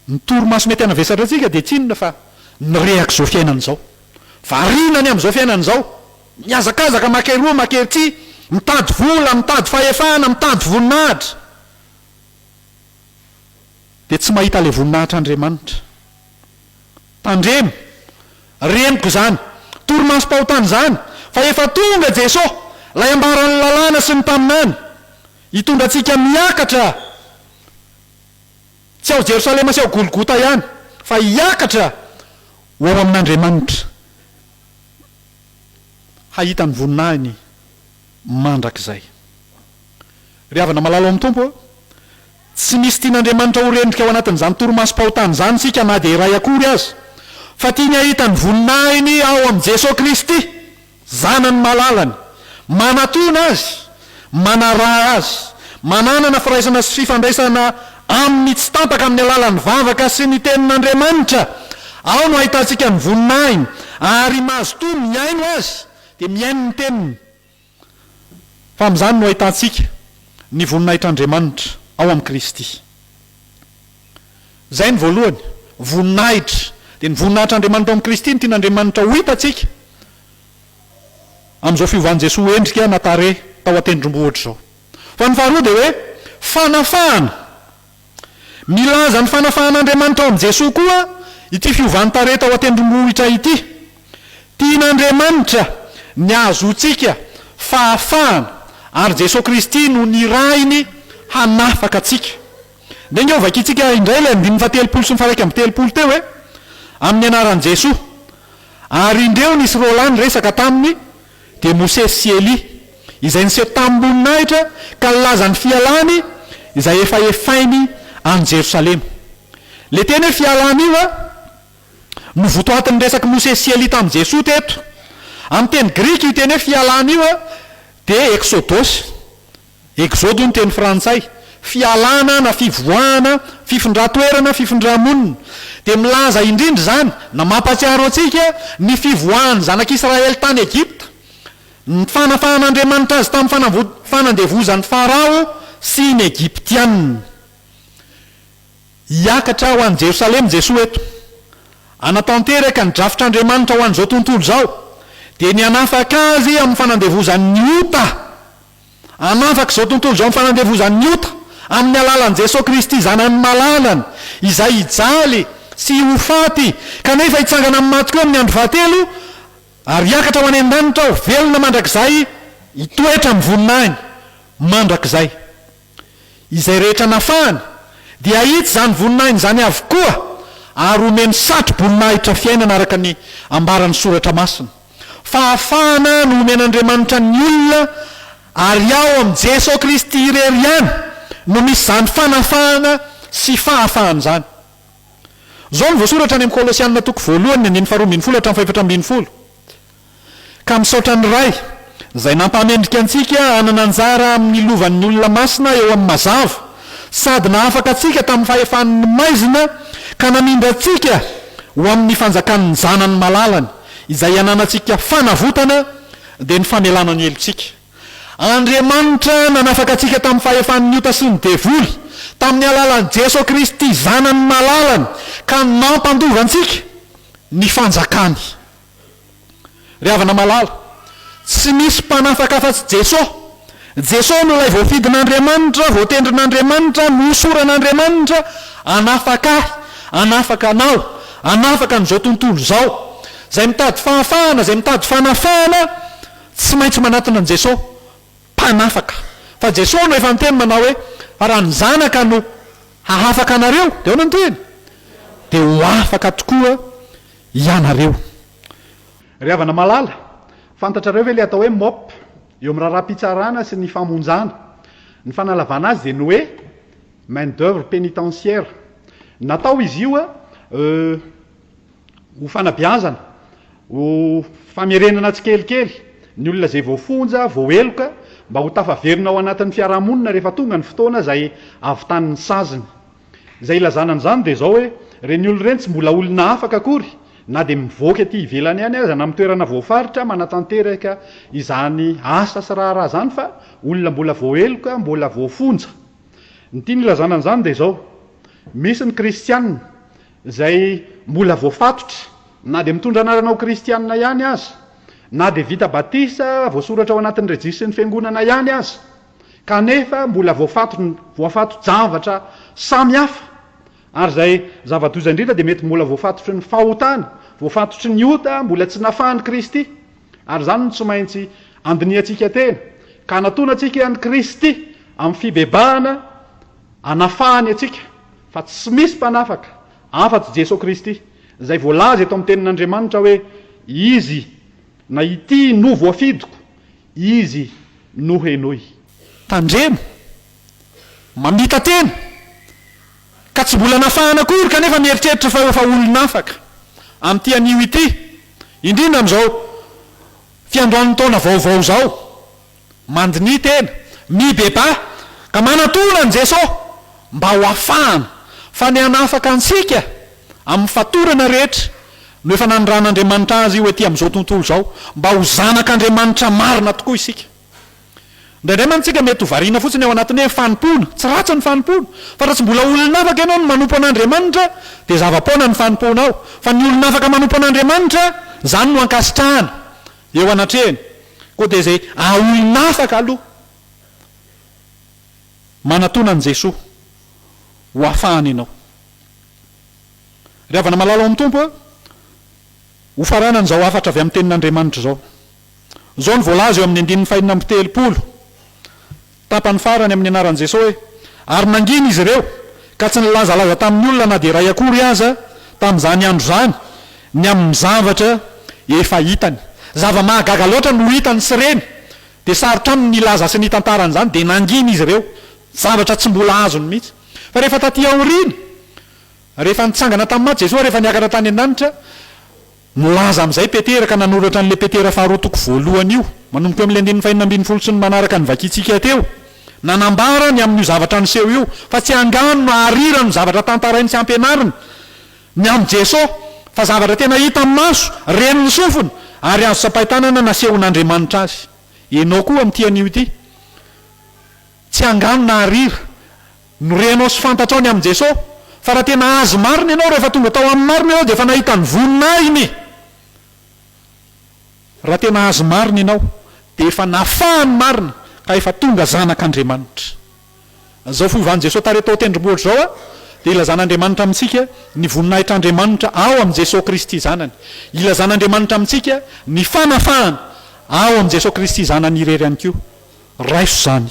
Ny torimaso mety hanavesatra antsika dia tsy inona fa ny rehaka izao fiainana izao. Variana ny amin'izao fiainana izao. Mihazakazaka maka eroa maka erỳ, mitady vola, mitady fahefana, mitady voninahitra, dia tsy mahita ilay voninahitr'Andriamanitra. Tandremo, reniko izany torimasom-pahotana izany, fa efa tonga Jesoa, ilay ambaran'ny Lalàna sy ny Mpaminany, hitondra antsika miakatra Tsy ao Jerosalema sy ao Golgota ihany, fa hiakatra ho ao amin'Andriamanitra, hahita ny voninahiny mandrakizay. Ry havana malala ao amin'ny Tompo ô, tsy misy tian'Andriamanitra ho rendrika ao anatin'izany torimasom-pahotana izany isika na dia iray akory aza, fa tiany hahita ny voninahiny ao amin'i Jesoa Kristy Zanany malalany, manatona azy, manaraha azy, mananana firaisana sy fifandraisana aminy tsy tampaka amin'ny alalan'ny vavaka sy ny Tenin'Andriamanitra. Ao no ahitantsika ny voninahiny, ary mazotoa mihaino Azy, dia mihaino ny Teniny. Fa amin'izany no ahitantsika ny voninahitr'Andriamanitra ao amin'i Kristy. Izay ny voalohany. Voninahitra. Dia ny voninahitr'Andriamanitra ao amin'i Kristy no tian'Andriamanitra ho hitantsika amin'izao fiovan'i Jesoa ho endrika na tarehy tao an-tendrombohitra izao. Fa ny faharoa dia hoe fanafahana. Milaza ny fanafahan'Andriamanitra ao amin'i Jesoa koa ity fiovan'ny tarehy tao an-tendrombohitra ity. Tian'Andriamanitra ny hahazoantsika fahafahana, ary Jesoa Kristy no nirahiny hanafaka antsika. Dia ange ho vakintsika indray ilay andininy fahatelopolo sy ny faha-iraika amby telopolo teo e! Amin'ny anaran'i Jesoa. Ary indreo nisy roalahy niresaka taminy, dia Mosesy sy Elia, izay niseho tamim-boninahitra ka nilaza ny fialany izay efa hefainy any Jerosalema. Ilay teny hoe fialany io a, no votoatin'ny resak'i Mosesy sy Elia tamin'i Jesoa teto. Amin'ny teny grika io teny hoe fialany io a, dia exodos, Exode io ny teny frantsay, fialana na fivoahana, fifindran-toerana, fifindra-monina. Dia milaza indrindra izany na mampahatsiaro antsika ny fivoahan'ny zanak'Israely tany Egypta, ny fanafahan'Andriamanitra azy tamin'ny fanavo, fanandevozan'i Farao sy ny Egyptiana. Hiakatra ho any Jerosalema Jesoa eto, hanatanteraka ny drafitr'Andriamanitra ho an'izao tontolo izao, dia ny hanafaka azy amin'ny fanandevozan'ny ota. Hanafaka izao tontolo izao ny fanandevozan'ny ota, amin'ny alalan'i Jesoa Kristy Zanany Malalany, izay hijaly sy ho faty, kanefa hitsangana amin'ny maty koa amin'ny andro fahatelo, ary hiakatra ho any an-danitra ho velona mandrakizay, hitoetra amin'ny voninahiny mandrakizay. Izay rehetra nafahany dia hahitsy izany voninahiny izany avokoa ary homeny satro-boninahitra fiainana araka ny ambaran'ny Soratra Masina. Fahafahana nomen'Andriamanitra ny olona ary ao amin'i Jesoa Kristy irery ihany no misy izany fanafahana sy fahafahana izany. Izao no voasoratra any amin'ny Kolosiana toko voalohany ny andininy faharoa ambin'ny folo hatramin'ny fahefatra ambin'ny folo. Ka misaotra ny Ray izay nampahamendrika antsika hanana anjara amin'ny lovan'ny olona masina eo amin'ny mazava sady nahafaka antsika tamin'ny fahefan'ny maizina ka namindra antsika ho amin'ny fanjakan'ny Zanany malalany izay ananantsika fanavotana dia ny famelana ny helotsika. Andriamanitra nanafaka antsika tamin'ny fahefan'ny ota sy ny devoly tamin'ny alalan'i Jeso Kristy Zanany malalany ka nampandova antsika ny fanjakany. Ry havana malala, tsy misy mpanafaka afa-tsy Jesosy. Jesosy no ilay voafidin'Andriamanitra, voatendrin'Andriamanitra, nohosoran'Andriamanitra hanafaka ahy, hanafaka anao, hanafaka an'izao tontolo izao. Izay mitady fahafahana, izay mitady fanafahana, tsy maintsy manatona an'i Jesosy, Mpanafaka. Fa Jesosy no efa niteny manao hoe, Fa raha ny Zanaka no hahafaka anareo, dia ahoana no tohiny? Dia ho afaka tokoa. ianareo. Ry havana malala, fantatrareo ve ilay atao hoe mop eo amin'ny raharaham-pitsarana sy ny famonjana? Ny fanalavana azy dia ny hoe main d'oeuvre pénitentiaire. Natao izy io ho fanabeazana, ho famerenana tsikelikely ny olona izay voafonja, voaheloka, mba ho tafaverina ao anatin'ny fiarahamonina rehefa tonga ny fotoana izay havitany ny saziny. Izay ilazana an'izany dia izao hoe, ireny olona ireny tsy mbola olona afaka akory na dia mivoaka ety ivelany ihany aza na amin'ny toerana voafaritra manatanteraka izany asa sy raharaha izany fa olona mbola voaheloka, mbola voafonja. Ny tiany ilazana an'izany dia izao, misy ny kristiana izay mbola voafatotra na dia mitondra anarana ho kristiana ihany aza, na dia vita batisa, voasoratra ao anatin'ny rejisisin'ny fiangonana ihany aza. kanefa mbola voafato-javatra samy hafa, ary izay zava-doza indrindra dia mety mbola voafatotry ny fahotana, voafatotry ny ota mbola tsy nafahan'i Kristy, ary izany no tsy maintsy andinihantsika tena, ka hanatona antsika an'i Kristy amin'ny fibebahana hanafahany antsika, fa tsy misy mpanafaka afa-tsy Jeso Kristy, izay voalaza eto amin'ny tenin'Andriamanitra hoe, Izy na Ity no voafidiko. Izy no henoy. Tandremo! Mamita-tena! Ka tsy mbola nafahana akory kanefa mieritreritra fa efa olon'afaka amin'ity anio ity, indrindra amin'izao fiandohan'ny taona vaovao izao. Mandinihy tena, mibebaha ka manatona an'i Jesoa mba ho afahana fa ny hanafaka antsika amin'ny fatorana rehetra No efa nanondran'Andriamanitra azy ho ety amin'izao tontolo izao, mba ho zanak'Andriamanitra marina tokoa isika. Indraindray mantsy isika mety ho variana fotsiny ao anatin'ny hoe fanompoana. Tsy ratsy ny fanompoana. Fa raha tsy mbola olon'afaka ianao no manompo an'Andriamanitra, dia zava-poana ny fanompoanao. Fa ny olon'afaka manompo an'Andriamanitra, izany no ankasitrahana eo anatrehany. Koa dia izay ahaolon'afaka aloha manatona an'i Jesoa ho afahany ianao. Ry havana malala ao amin'ny Tompo a, hofaranana izao hafatra avy amin'ny Tenin'Andriamanitra izao. Izao no voalaza eo amin'ny andininy fahenina amby telopolo, tapany farany amin'ny anaran'i Jesoa hoe, Ary nangina izy ireo, ka tsy nilazalaza tamin'ny olona na dia iray akory aza, tamin'izany andro izany, ny amin'ny zavatra efa hitany. Zava-mahagaga loatra no hitany sy reny, dia sarotra aminy ny hilaza sy ny hitantara an'izany, dia nangina izy ireo, zavatra tsy mbola azony mihitsy. Fa rehefa taty aoriana, Rehefa nitsangana tamin'ny maty Jesoa ary efa niakatra tany an-danitra, milaza amin'izay Petera ka nanoratra an'ilay Petera faharoa toko voalohany io. Manomboka eo amin'ilay andininy fahenina ambin'ny folo sy ny manaraka no vakintsika teo. Nanambara ny amin'io zavatra niseho io fa tsy angano na arira no zavatra tantarainy sy ampianariny ny amin'i Jesoa fa zavatra tena hita amin'ny maso, ren'ny sofina ary azo tsapain-tanana nasehon'Andriamanitra azy. Enao koa amin'ity anio ity. Tsy angano na arira. Norenao sy fantatrao ny amin'i Jesoa, fa raha tena Azy marina ianao, rehefa tonga tao Aminy marina ianao dia efa nahita ny voninahiny. Raha tena Azy marina ianao, dia efa nafahany marina ka efa tonga zanak'Andriamanitra. Izao fiovan'i Jesoa tarehy tao an-tendrombohitra izao dia ilazan'Andriamanitra amintsika ny voninahitr'Andriamanitra ao amin'i Jesoa Kristy Zanany. Ilazan'Andriamanitra amintsika ny fanafahana ao amin'i Jesoa Kristy Zanany irery ihany koa. Raiso izany.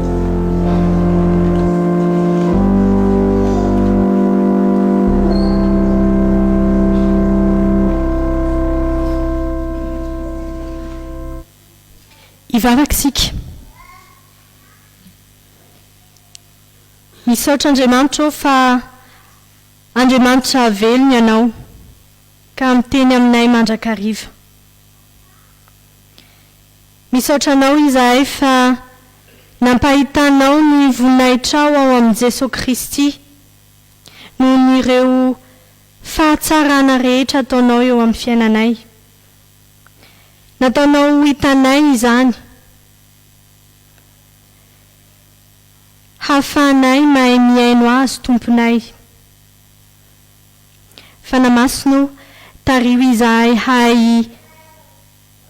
Hivavaka isika. Misaotra Andriamanitra aho fa Andriamanitra velona ianao ka miteny aminay mandrakariva. Misaotra anao izahay fa nampahitanao ny voninahitrao ao amin'i Jesoa Kristy noho ny ireo fahatsarana rehetra ataonao eo amin'ny fiainanay. Nataonao ho hitanay izany hahafahanay mahay mihaino Azy Tomponay. Fanahy Masina ô, tariho izahay hahay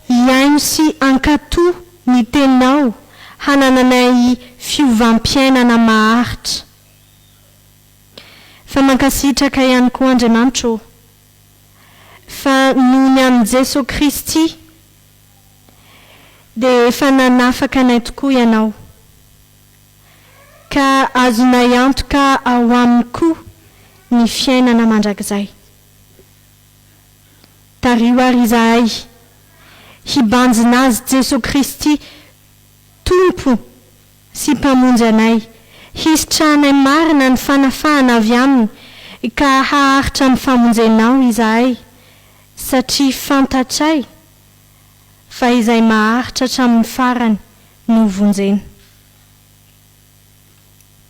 Hihaino sy hankatò ny Tenao hanananay fiovam-piainana maharitra. Fa mankasitraka ihany koa Andriamanitra ô, fa noho ny amin'i Jesoa Kristy dia efa nanafaka anay tokoa Ianao, ka azonay antoka ao Aminy koa ny fiainana mandrakizay. Tariho ary izahay hibanjina Azy Jesoa Kristy Tompo sy Mpamonjy anay, hisitrahanay marina ny fanafahana avy Aminy ka haharitra amin'ny famonjenao izahay satria fantatray fa izay maharitra hatramin'ny farany no vonjena.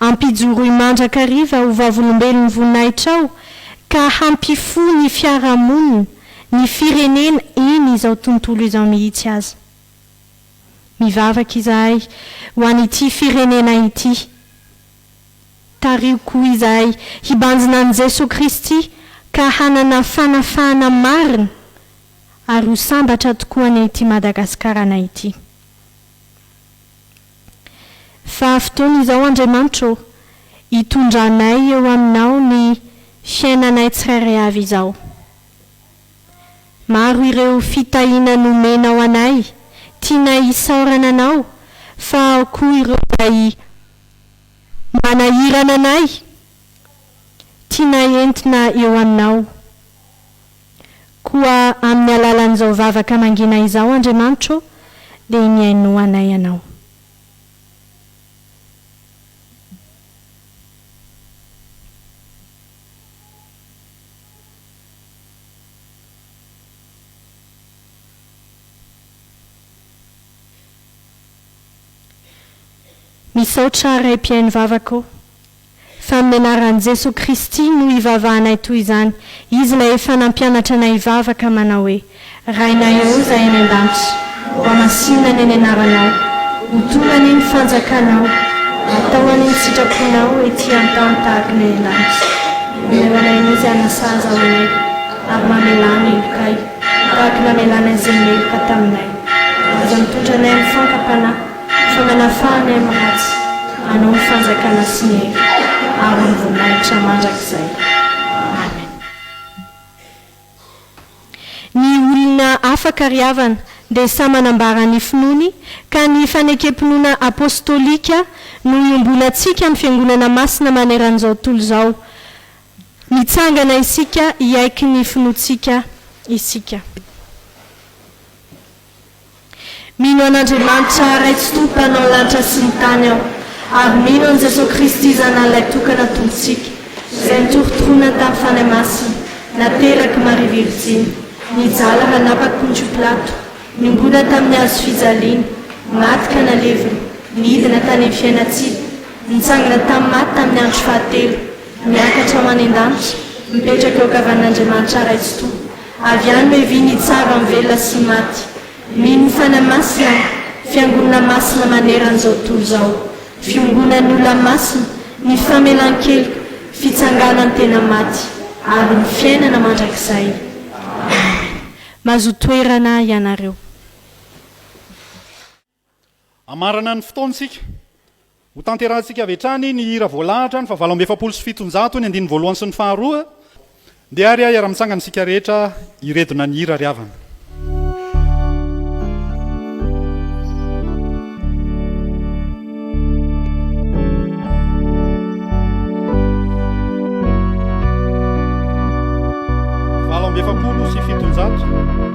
Ampijoroy mandrakariva ho vavolombelon'ny voninahitrao ka hampifoha ny fiarahamonina, ny firenena eny izao tontolo izao mihitsy aza. Mivavaka izahay ho an'ity firenena ity. Tariho koa izahay hibanjina an'i Jesoa Kristy ka hanana fanafahana marina ary ho sambatra tokoa ny ity Madagasikarana ity. Fa fotoana izao Andriamanitro ô, hitondranay eo Aminao ny fiainanay tsirairay avy izao. Maro ireo fitahiana nomenao anay, tianay hisaorana Anao, fa ao koa ireo izay manahirana anay, tianay entina eo Aminao. Koa amin'ny alalan'izao vavaka mangina izao, Andriamanitro ô, dia iniaino anay Ianao. Misaotra Ray Mpihaino vavaka ô. Fa amin'ny anaran'i Jesoa Kristy no ivavahanay toy izany, Izy ilay efa nampianatra anay hivavaka manao hoe, Rainay ô Izay any an-danitra, hohamasinina ny Anaranao, ho tonga anie ny fanjakanao, atao anie ny sitraponao ety an-tany tahaka ny any an-danitra. Omeo anay ny izy hanasazy ao anay, ary mamelà ny helokay, tahaka ny namelanay izay meloka taminay. Aza mitondra anay amin'ny fanka-panahy, Fa manafahana eo mahatsy anao ny fanjakana sy ny hery aro ny voninahitra mandrakizay. Amen. Ny olona afaka ry havana dia samy manambara ny finoany ka ny fanekem-pinoana apostolika no iombonantsika amin'ny fiangonana masina maneran'izao tontolo izao. Mitsangana isika hiaiky ny finoantsika isika. Mino an'Andriamanitra Ray tsy Tompo Mpanao lanitra sy ny tany aho, ary mino an'i Jesoa Kristy Zanany Ilay Tokana Tompontsika, Izay nitorontoronany tamin'ny Fanahy Masina, naterak'i Maria Virjiny, nijala hanapaka Pontio Pilato, niombona tamin'ny hazo fijaliana, maty ka nalevina, nidina tany amin'ny fiainantsika, nitsangana tamin'ny maty tamin'ny andro fahatelo, miakatra ho any an-danitra, mipetraka eo ankavanan'Andriamanitra Ray tsy Tompo. Avy any hoe vy ny tsara am velona sy maty. Mino fanahy masina aho, fiangonana masina maneran zao tontolo zao, fiongonan ny olona masina, ny famelan keloka, fitsanganan tena maty, ary ny fiainana mandrakizay. Amen. Mazotoerana ianareo. Hamarana ny fotoana isika. Hotanterahintsika avy hatrany ny hira voalahatra ny fahavalo amby efapolo sy fitonjato, ny andininy voalohany sy ny faharoa. Ndeha ary hiara-mitsangana isika rehetra hiredona ny hira ry havana. Valo amby efapolo sy fitonjato.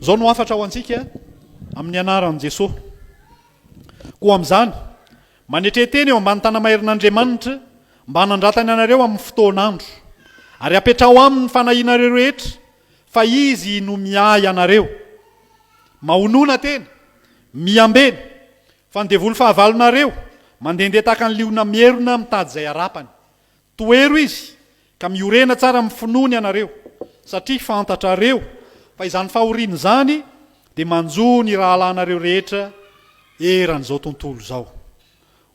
Izao no hafatra ho antsika amin'ny anaran'i Jesoa. Koa amin'izany, manetre tena eo ambany tanamaherin'Andriamanitra mba hanandratany anareo amin'ny fotoan'andro, ary apetraho aminy ny fanahianareo rehetra, fa Izy no miahy anareo. Mahonona tena, miambena, fa ny devoly fahavalonareo mandehandeha tahaka ny liona mierona mitady izay harapany. Tohero izy ka miorena tsara amin'ny finoany ianareo, satria fantatrareo fa izany fahoriana izany dia manjo ny rahalahinareo rehetra eran'izao tontolo izao.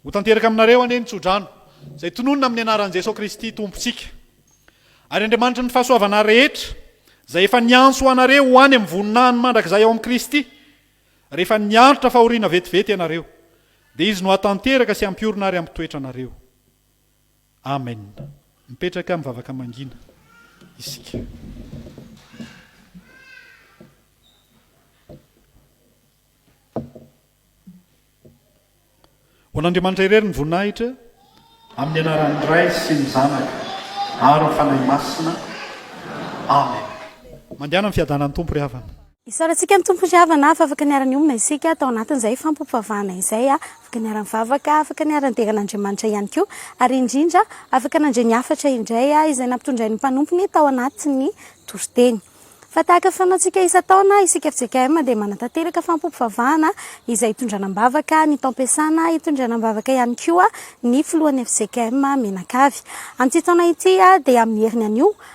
Ho tanteraka aminareo anie ny tsodrano izay tononina amin'ny anaran'i Jesoa Kristy Tompontsika. Ary Andriamanitry ny fahasoavana rehetra, izay efa niantso anareo ho any amin'ny voninahiny mandrakizay ao amin'i Kristy, rehefa niaritra fahoriana vetivety ianareo, dia Izy no hahatanteraka sy hampiorina ary hampitoetra anareo. Amen! Mipetraka mivavaka mangina isika. Ho an'Andriamanitra irery ny voninahitra. Amin'ny anaran'ny Ray sy ny Zanaka ary ny Fanahy Masina. Amen. Mandehana amin'ny fiadanan'ny Tompo ry havana. Isaorantsika ny Tompo ry havana fa afaka niara-niomana isika tao anatin'izay fampivavahana izay, afaka niara-nivavaka, afaka niara-nidera an'Andriamanitra ihany koa, ary indrindra afaka nandre ny hafatra indray izay nampitondrain'ny mpanompony tao anatin'ny toriteny. Fa tahaka ny fanaontsika isan-taona, isika fjkm dia manatanteraka fampivavahana izay itondrana am-bavaka ny taom-piasana, itondrana am-bavaka ihany koa ny filohan'ny fjkm mianakavy. Amin'ity taona ity dia amin'ny heriny anio,